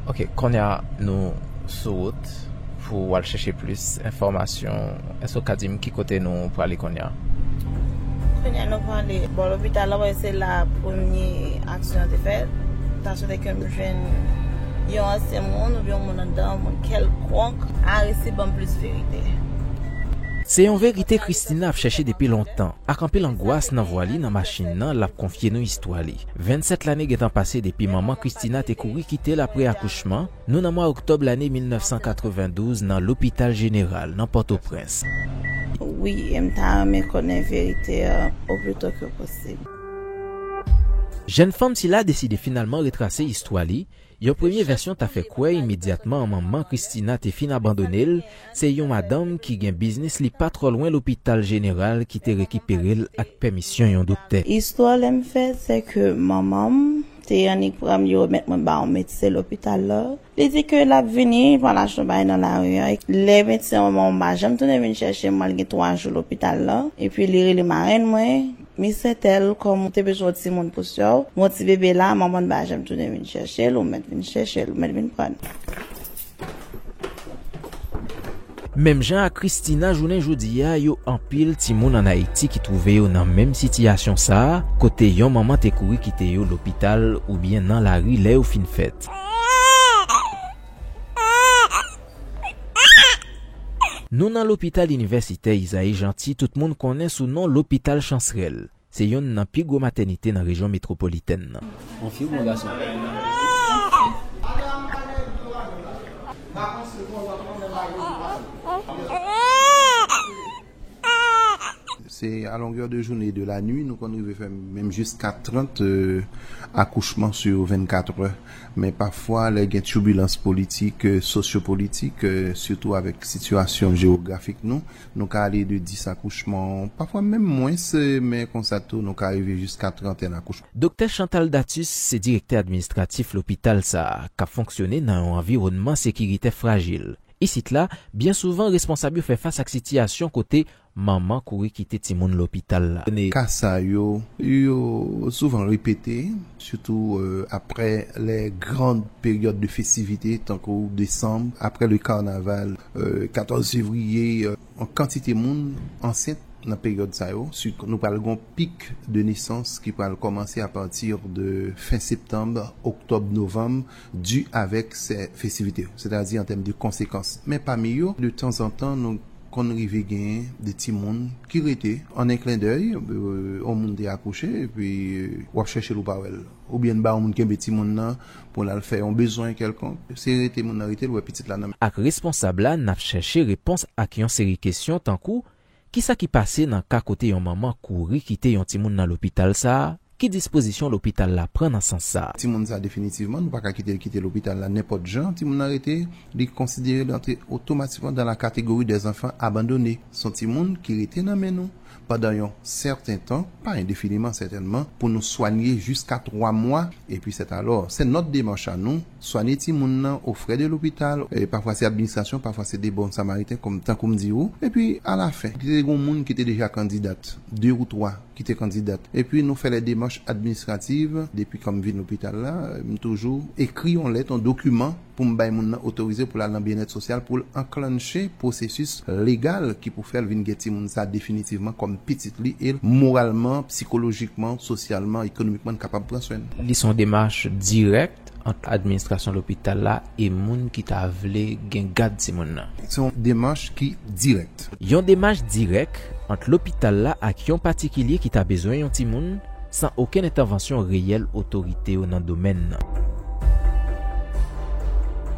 Ok, konye a nou sou wout pou wal chèche plis enfòmasyon. Èske ou ka di m ki kote nou prale konye a? Konye a nou prale bò lopital la, wè se la premye aksyon an te fèt. Ta swete ke m jwenn yon ansyen moun, oubyen yon moun anndan, yon moun kèlkonk. Aristide ban m plis verite. Se yon verite Christina ap chèche depi lontan. Ak anpil angwas nan vwa li nan machin nan, l ap konfye nou istwa li. 27 lane gentan pase depi manman Christina te kouri kite l apre akouchman, nou nan mwa oktòb lane 1992 nan Lopital Jeneral nan Pòtoprens. Wi, e m ta renmen konnen verite an oplito ke posib. Jèn fanm sila deside finalman retrase istwa li, Yon premye vèsyon ta fè kwè imedyatman manman Christina te fin abandone l, se yon madanm ki gen biznis li pa twò lwen lopital jeneral ki te rekipere l ak pèmisyon yon doktè. Istwa lè m fèt se ke manman m te annik pran m li remèt mwen ba yon medsen lopital la, li di ke l ap vini pran lajan bay nan lari an, lè medsen manman m pa janm tounen vin chèche m mwen al gen 3 jou lopital la, epi li rele marenn mwen Miss Intel kòm ou te bezwen yon timoun pou sè w, yon ti bebe la, manman n pa janm tounen vin chèche l, ou mèt vin chèche l, ou mèt vin pran l. Menm jan ak Christina jounen jodi a yo anpil timoun an Ayiti ki twouve yo nan menm sitiyasyon sa a kote yon manman te kouri kite yo lopital oubyen nan lari lè yo fin fèt. Nou nan Lopital Inivèsitè Isaïe Jeanty tout moun konnen sou non Lopital Chansrèl. Se youn nan pi gwo matènite nan rejyon metwopolitèn nan. Se a longè de joune e de la nwi nou konn rive fè menm jiska 30 akouchman sou yon 24 è. Men pafwa lè gen tibilans politik, sosyopolitik, sitou avèk sitiyasyon jewografik nou, nou ka ale de 10 akouchman, pafwa menm mwens, men konsa tou nou ka rive jiska trantèn akouchman. Doktè Chantal Datus se direktè administratif lopital sa a k ap fonksyone nan yon anviwònman sekiritè frajil Isit la, byen souvan responsab yo fè fas ak sitiyasyon kote manman kouri kite timoun lopital la. Ka sa yo, yo souvan repete, sitou apre les grandes périodes de festivités, tankou desanm, apre le carnaval, 14 fevriye. Yon kantite moun ansent nan peryòd sa yo, sitou nou pral gen yon pic de naissance ki pral kòmanse a partir de fin septembre, octobre, novembre, di avèk sè festivite yo, sètadi an tèm de konsekans, men pami yo, de tanzantan nou konn rive genyen de timoun ki rete, an en klendèy, yon moun te akouche, epi w ap chèche l ou pa wè l, oubyen n ba yon moun kenbe timoun nan pou l al fè yon bezwen kèlkonk, se rete moun nan rete l wè pitit la nan men. Ak responsab la, n ap chèche repons ak yon seri kesyon tankou, Ki sa ki pase nan ka kote yon manman kouri kite yon timoun nan lopital sa a, ki dispozisyon lopital la pran nan sans sa? Timoun sa a definitivman, nou pa ka kite l kite lopital la nenpòt jan, timoun nan rete, li konsidere li antre otomatikman dan la kategori dè zanfan abandone. S on timoun ki rete nan men nou pandan yon sèten tan, pa endefiniman sètènman, pou nou swanye jiska twa mwa, epi sètalò, se nòt demach a nou, Swanye timoun nan o frè de lopital, pafwa se administrasyon, pafwa se de bon samariten kòm tankou m di ou. Epi a la fen, li te gon moun ki te deja kandidat, de ou twa ki te kandidat. Epi nou fè lè demach administrativ, depi kòm vin lopital la, m toujou ekri on lèt, on dokiman pou m bay moun nan otorize pou l al nan byennèt sosyal pou l anklannche pwosesis legal ki pou fè l vin gen timoun sa definitivman kòm pitit li e l moralman, psikolojikman, sosyalman, ekonomikman kapab pran swen l. Li se on demach dirèk kontak ant administrasyon lopital la e moun ki ta vle gen gad timoun nan. Se yon demach ki dirèk. Yon demach dirèk ant lopital la ak yon patikilye ki ta bezwen yon timoun, san okenn entèvansyon reyèl otorite yo nan domèn nan.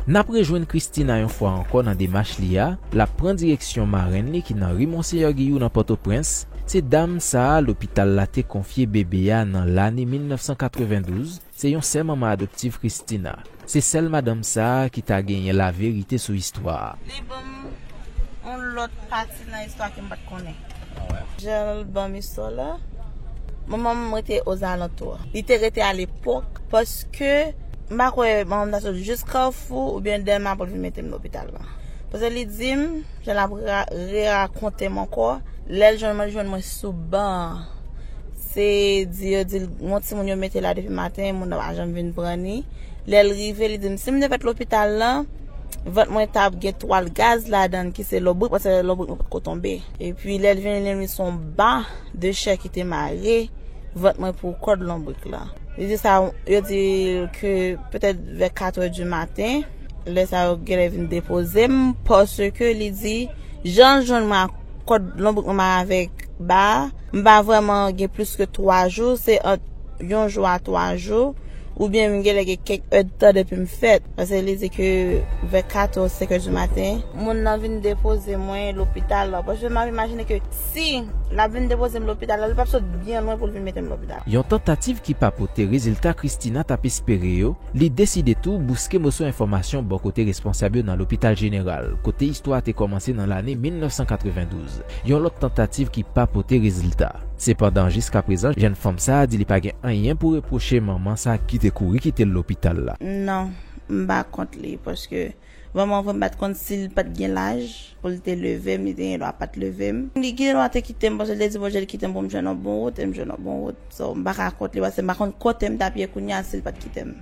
N ap rejwenn Christina yon fwa ankò nan demach li a, l ap pran direksyon marenn li ki nan ri Monseyè Giyou nan Pòtoprens, se dam sa a lopital la te konfye bebe a nan lane 1992, Se yon sè manman adoptiv Christina. Se sèl madanm sa a ki ta genyen la verite sou istwa a. Li banm yon lot pati nan istwa kem pat konnen. Ah wè. Janl banm istwa la. Manmanm rete ozalantou. Li te rete a lepok paske m pa kwe manmanm ta sot jis carrefour oubyen delma poul vin metem lopital la. Paske li dim. Jan lap rerakonte m ankò lèl jwenn mwen li jwenn mwen sou ban an se di yo dil gon timoun yo mete la depi maten moun nan pa janm vin pran ni lèl rive li dim sim te fèt lopital lan vant mwen tap gen twal gaz ladann ki se lobrik paske lè lobrik mwen potko tonbe epi lèl vini li menm son ba de chè ki te mare vant mwen pou kòd lonbrik lan li di sa yo dil ke petèt vè 4 è di maten. Lè sa yo genlè vin depoze m paske li di jan l jwenn mwen ak kòd lonbrik mwen mare avèk ba a, m pa vrèman gen plis ke 3 jou, se ant yon jou a 3 jou oubyen m genlè gen kèk èdtan depi m fèt paske li di ke vè 4 ou 5 è di maten moun nan vin depoze mwen lopital la paske m ap imajine ke si l ap vin depoze m lopital la li p ap sot byen lwen pou l vin mete m lopital. Yon tantativ ki pa pote rezilta Christina t ap espere yo, li deside tou bouske moso enfòmasyon bò kote responsab yo nan Lopital Jeneral, kote istwa a te kòmanse nan lane 1992, yon lòt tantativ ki pa pote rezilta. Sepandan, jiskaprezan, jèn fanm sa a di li pa gen anyen pou repwoche manman sa ki te kouri kite l lopital la. Non, m pa kont li, paske Manman voyem pat konn sil pat gen laj poul te levem li te gen dwa pat levem. Li gen dwa te kitem paske li te di Bondye li kitem poum jwenn yon bon wout em jwenn yon bon wout so m paka kont li paske m pa konn kotem tap ye kounya sil pat kitem.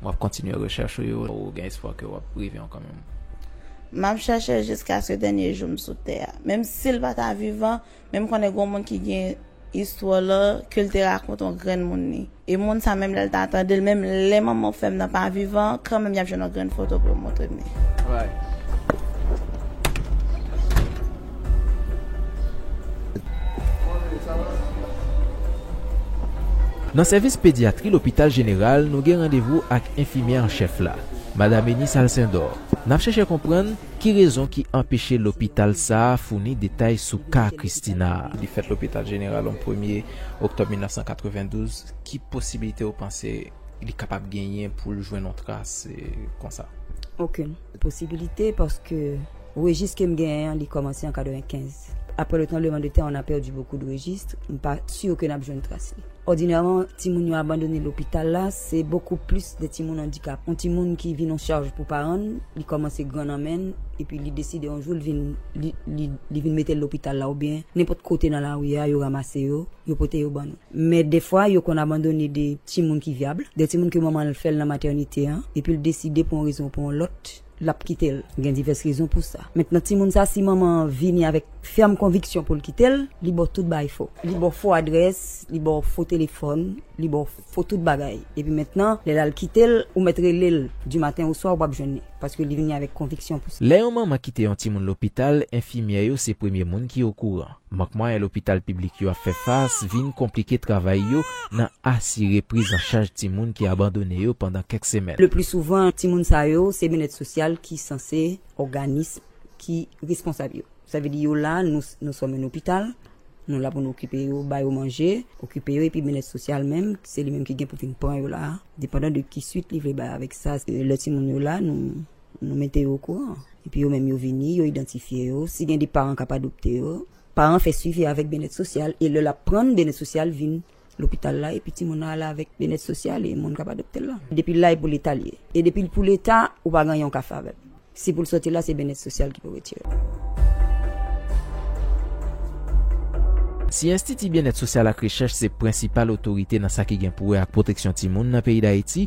Wap kontinye rechèch ou yo ou gen espwa ke wap rive yon kanmenm? Map chèche jiskaske dènye joum sou tè a. Menm sil pata vivan Men m konnen gon moun ki gen istwa w lan ke l te rakonte yon grenn moun li. E moun sa menm lè l ta tande l, menm lè manman w fèm nan pa vivan, kanmenm y ap jwenn yon grenn foto pou yo montre m li. Nan sèvis pedyatri lopital jeneral nou gen randevou ak enfimyè an chèf la, Madam Eunice Alcindor. N ap chèchè konprann Ki rezon ki anpeche lopital sa a founi detay sou ka Christina a? Li fèt lopital jeneral an premye oktòb 1992. Ki posibilite ou panse li kapab genyen pou l jwenn yon tras konsa? Okenn posibilite paske rejis ke m genyen an li kòmanse an 95. Apre le tranbleman de tè on a pèdi bokou de rejistre, m pa sur ke nap jwenn tras li. Òdinèman, timoun yo abandone lopital la, se bokou plis de timoun andikap. On timoun ki vin on charj pou paran n, li kòmanse gran nan men n, epi li deside on jou l vin, li, li, li vin mete l lopital la oubyen nenpòt kote nan lari a, yo ramase yo, yo pote yo ban nou. Men defwa yo konn abandone de timoun ki vyabl, de timoun ke manman l fè l nan matènite an, epi l deside pou on rezon ou pou on lòt, lap kitel gen divès rezon pou sa mentnan timoun sa si manman an vini avèk fèm konviksyon poul kitel li baw tout baay fo li baw fo adrès li baw fo telefòn li baw fo tout bagay epi mentnan lè lal kitel ou mèt relel di maten oswa ou pap jwenn li paske li vini avèk konviksyon pou sa. Lè yon manman kite yon timoun lopital enfimyè yo se premye moun ki okouran. Mank mwayen lopital piblik yo ap fè fas vin konplike travay yo nan asire priz an chaj timoun ki abandone yo pandan kèk semèn. Leplisouvan, timoun sa yo se Byenèt Sosyal ki sanse òganism ki responsab yo. Sa vle di yo la, nou, nou sèlman nan lopital, nou la pou nou okipe yo, ba yo manje, okipe yo epi Byenèt Sosyal menm, se li menm ki gen pou vin pran yo la, depandan de ki suit li vle bay avèk sa, lè timoun yo la, nou. Nou mete yo okouran. Epi yo menm yo vini, yo idantifye yo. Si gen de paran k ap adopte yo, paran an fè swivi avèk byenèt sosyal e lè l ap pran n, byenèt sosyal vin lopital la epi timoun nan ale avèk byenèt sosyal e moun k ap adopte l lan. Depi l la e pou Leta l ye. E depi l pou Leta, ou pa gen anyen ou ka fè avè l. Si pou l soti la, se byenèt sosyal ki pou retire l. Si Enstiti Byenèt Sosyal ak Rechèch se prensipal otorite nan sa ki gen pou wè ak pwoteksyon timoun nan peyi Dayiti,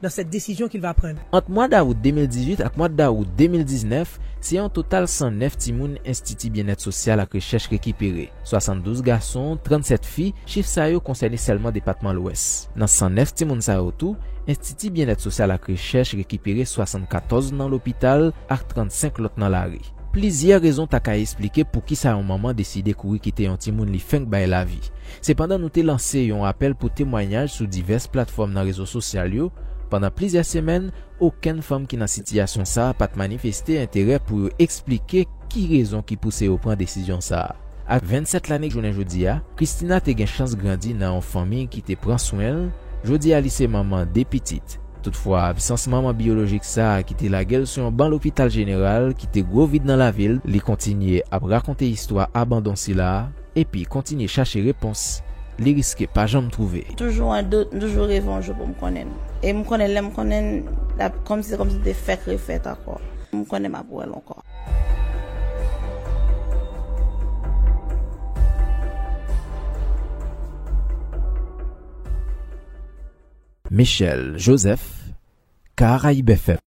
dans cette décision qu'il va prendre. Ant mwa dawout 2018 ak mwa dawout 2019, se yon total 109 timoun Enstiti Byennèt Sosyal ak Rechèch rekipere, 72 gason, 37 fi, chif sa yo konsène sèlman depatman Lwès. Nan 109 timoun sa yo tou, Enstiti Byennèt Sosyal ak Rechèch rekipere 74 nan lopital ak 35 lòt nan lari. Plizyè rezon ta ka esplike poukisa yon manman deside kouri kite yon timoun li fenk bay lavi. Sepandan nou te lanse yon apèl pou temwanyaj sou divès platfòm nan rezo sosyal yo, pandan plizyè semèn, okenn fanm ki nan sitiyasyon sa a pa t manifeste enterè pou yo eksplike ki rezon ki pouse yo pran desizyon sa a. A 27 lane jounen jodi a, Christina te gen chans grandi nan yon fanmi ki te pran swen l, jodi a li se manman de pitit. Toutfwa, absans manman biyolojik sa a ki te lage l sou yon ban lopital jeneral kite gwo vid nan lavi l, li kontinye ap rakonte istwa abandon sila a, Epi kontinye chache repons li riske pa janm twouve. M toujou an dout, m toujou reve yon jou pou m konnen l. E m konnen lè m konnen l, l ap kòmsi se kòmsi li te fèk refèt ankò. M konnen m ap wè l ankò. Michel Joseph, Caraibes FM.